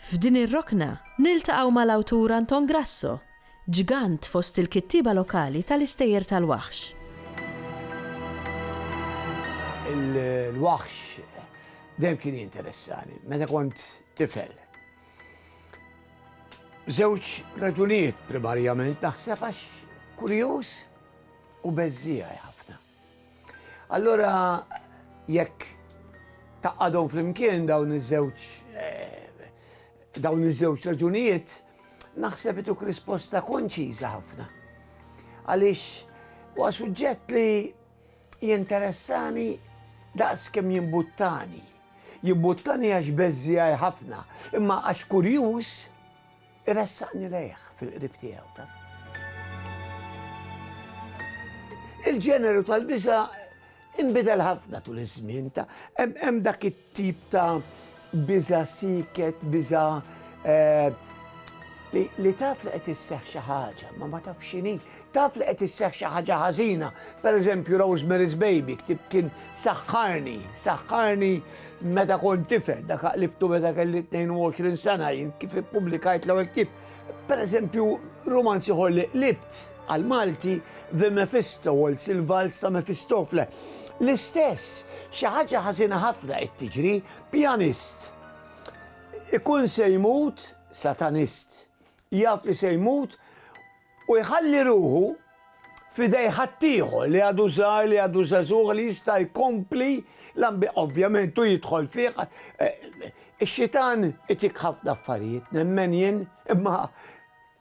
F'din ir-rokna niltaqgħu mal-awtur Anton Grasso, ġgant fost il-kittieba lokali tal-istejjer tal-waħx. Il-waħx dejjem kien jinteressani meta kont tifel. Żewġ raġunijiet primarjament naħseb għax kurjuż u beżżiegħi ħafna. Allura jekk taqadhom flimkien dawn iż-żewġ dawn iż-żewġ raġunijiet, naħseb ituk risposta konċiża ħafna. Għaliex huwa suġġett li jinteressani daqs kemm jimbuttani. Jimbuttani għax beżżiegħi ħafna, imma għax kurjuż, Iressaqni lejh fil-qrib tiegħu taf. Il-ġeneru tal-biża imbidel ħafna tul iż-żmien ta' hemm dak it-tip ta' biża siket, biża eh, li taf li qed isseħ xi ħaġa, ma ma taf x'inhi, Taf li qed isseħħ xi ħaġa ħażina, pereżempju Rosemary's Baby, ktieb kien saħħarni, saħħarni meta kont tifel, dak qlibtu meta kelli 22 sena jien kif ippubblikajt l-ewwel ktieb. Pereżempju, romanzi ħol li qlibt għal Malti The Mephisto u l-Silvals ta' Mephistofle. L-istess, xi ħaġa ħażina ħafna qed tiġri, pjanist. Ikun se jmut satanist. Jaf li se jmut u jħalli ruħu f'idej ħaddieħor li għadu żgħar, li għadu żagħżugħ li jista' jkompli l-ambjent. Ovvjament hu jidħol fih. Ix-xitan itik ħafna affarijiet, nemmen jien, imma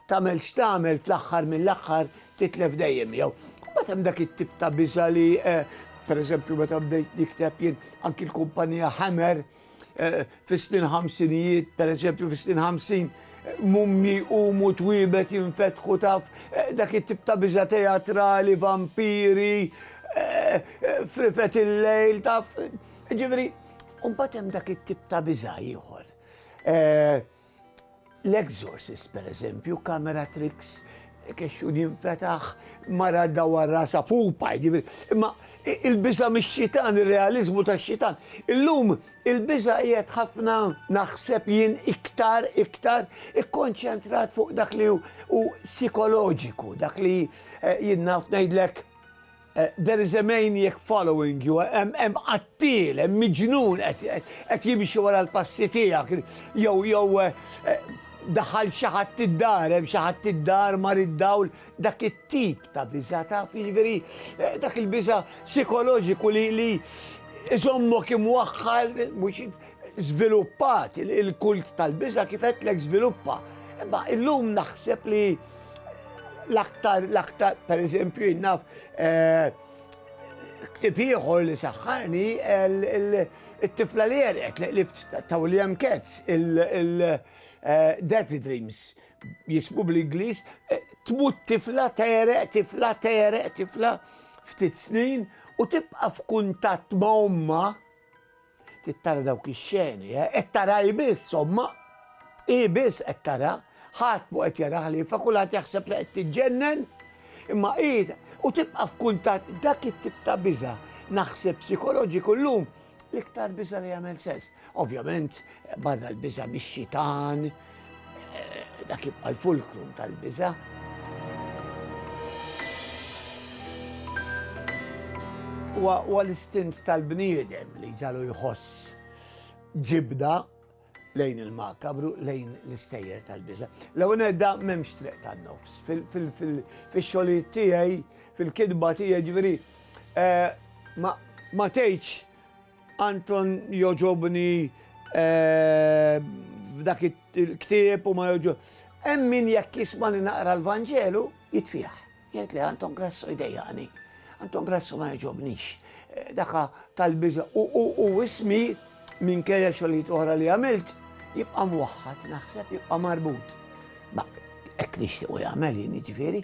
tagħmel x'tagħmel fl-aħħar mill-aħħar titlef dejjem jew. Mbagħad hemm dak it-tip ta' biża li pereżempju meta bdejt nikteb jien anki l-kumpanija Hammer Fis-snin ħamsinijiet, pereżempju, fis-snin ħamsin, mummji jqumu twiebet jinfetħu taf eh, dak it-tip ta' biża teatrali, vampiri, eh, eh, frifet il-lejl taf. Ġifieri, mbagħad hemm dak it-tip ta' biża ieħor. L-Exorcist, pereżempju, kamera tricks, kexxun jinfetaħ, mara dawar rasa pupa, jiġifieri. Imma il-biża' mix-xitan, ir-realiżmu tax-xitan. Illum il-biża' qiegħed ħafna naħseb jien iktar iktar ikkonċentrat fuq dak li hu sikoloġiku, dak li eh, jien naf ngħidlek There is a maniac following you, hemm qattiel, hemm miġnun qed jimxi wara l-passi tiegħek, jew jew daħal xi ħadd id-dar, hemm xi ħadd id-dar mar id-dawl, dak it-tip ta' biża' taf, jiġifieri dak il-biża' psikoloġiku li li iżommok imwaħħal mhux żviluppat il-kult tal-biża' kif għedtlek żviluppa. Imma illum naħseb li l-aktar, l-aktar, per eżempju, jinnaf, eh, ktib ieħor li saħħani il-tifla li jerek li qlibt ta' William Katz il-Death eh, Dreams jismu bl-Inglis eh, tmut tifla tereq, tifla tereq, tifla ftit snin u tibqa f'kuntatt ma' omma Trid tara dawk ix-xeni, eh? Qed tara hi biss, somma. Hi biss qed tara. Ħadd mu qed jara ħlifa, kulħadd jaħseb li qed tiġġennen. Imma hi u tibqa' f'kuntatt dak it-tip ta' biża' naħseb psikoloġiku llum l-iktar biża' li jagħmel sens. Ovvjament, barra l-biża' mix-xitan, Dak jibqa' l-fulkrum tal-biża'. Huwa l-istint tal-bniedem li ġalu jħoss ġibda lejn il-makabru, lejn l-istejjer tal-biża. L-ewwel edda m'hemmx triq tan-nofs. Fix-xogħlijiet tiegħi, fil-kitba tiegħi ġifieri eh, ma tgħidx Anton joġobni f'dak il-ktieb u ma joġob. Hemm min jekk jismani naqra l-Vanġelu jitfiħ. Jgħid li Anton Grasso jdejjaqni. Anton Grasso ma joġobnix. Eh, daka tal-biża u ismi minn kejja xogħlijiet oħra li għamilt jibqa' mwaħħad naħseb jibqa' marbut. Ma hekk nixtiequ jagħmel jien jiġifieri